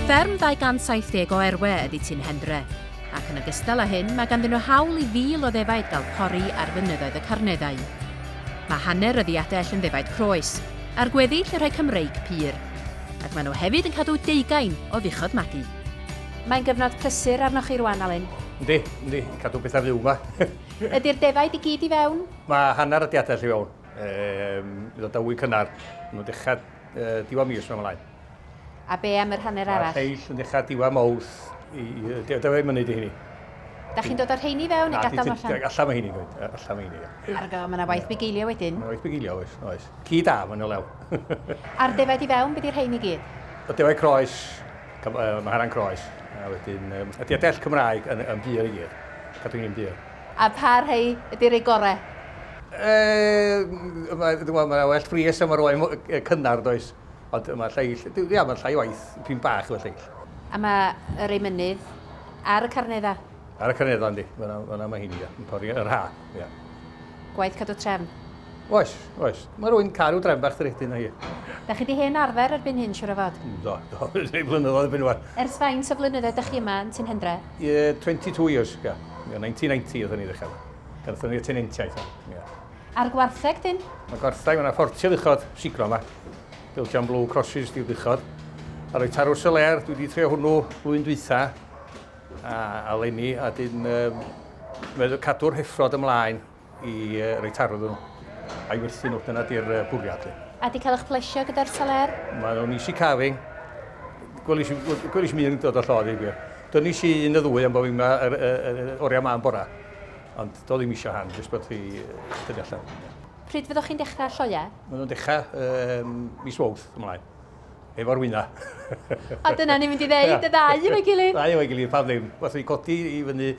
Fferm 270 o erwe ydy Tyn Hendre, ac yn ogystal â hyn mae ganddyn nhw hawl i fil o ddefaid gael pori ar fynyddoedd y Carneddau. Mae hanner y ddiadell yn ddefaid croes, a'r gweddill yn rhai Cymreig pur. ac maen nhw hefyd yn cadw deugain o fuchod magu. Mae'n gyfnod prysur arnoch chi rwan, Alun. Yndi, yndi, cadw pethau fyw ma. Ydi'r defaid i gyd i fewn? Mae hanner y diadell i fewn. Ehm, bydd o dywy cynnar. Mae nhw'n dechrau uh, diwa mis mewn mlaen. A be am yr hanner arall? Mae lleill yn dechrau diwa mawth i, i dyfai mynu di hynny. Da chi'n dod o'r rheini fewn neu gadael allan? Allan mae hynny, allan mae hynny. Argo, mae yna waith bugeilio wedyn. Mae yna waith bugeilio, oes, oes. Ci da, mae'n o lew. A'r defaid i fewn, be di rhein i gyd? Y defaid croes, maharan croes, a wedyn ydy a dell Cymraeg yn yn bur i gyd. Cadw ni'n bur. A pa rhai ydy rei gore? Yy, mae yna well fries a mae'r oen cynnar does, ond mae lleill, ia mae'n llai waith, dwi'n bach efo lleill. A mae y rei mynydd ar y carnedd a? Ar y canedda yndi, fyna mae hyn, yn pori yr ha. Ia. Gwaith cadw trefn? Oes, oes. Mae rwy'n cadw trefn bach drych dyn o hi. Da chi di hen arfer erbyn hyn, siwr o fod? Do, do, rhai blynyddoedd erbyn wan. Ers faint o flynyddoedd da chi yma yn Tyn Hendre? Ie, 22 years, ia. 1990 oeddwn ni ddechrau. Gyrthon ni'r tenentiaeth yma, ia. A'r gwartheg dyn? Mae gwartheg, mae yna ffortiad uchod, siglo yma. Built am blue crosses, diwrduchod. A roi tarws y ler, dwi wedi trio hwnnw flwyddyn dwytha. A eleni, a dyn um, meddwl cadw'r heffrod ymlaen i uh, roi tarw iddyn nhw. A'i werthu nhw, dyna di'r uh, bwriad. A di cael eich plesio gyda'r saler? Mae nhw'n easy carving. Gwelys i mi yn dod o llodd i gwir. Dynis i un y ddwy am bod fi'n oriau ma'n bora. Ond do ddim eisiau han, jyst bod chi dyddi allan. Pryd fyddwch chi'n dechrau lloiau? Mae nhw'n dechrau um, mis wawth ymlaen. efo'r wyna. A dyna ni'n mynd i ddeud, y ddau yn ei gilydd. Ddau yn ei gilydd, pam ddim. Os ni'n codi i fyny,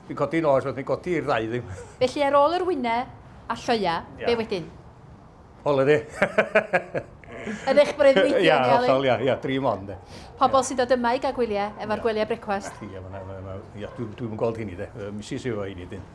ni'n codi nos, os ni'n codi i'r ddau ddim. Felly ar ôl yr wyna a lloia, be wedyn? Holiday. Yn eich breuddwydion, Ia, hollol, ia, ia, dream on, de. Pobl sy'n dod yma i gael gwyliau, efo'r gwyliau brecwast. Ia, dwi'n gweld hynny, de. Misus efo hynny, dyn.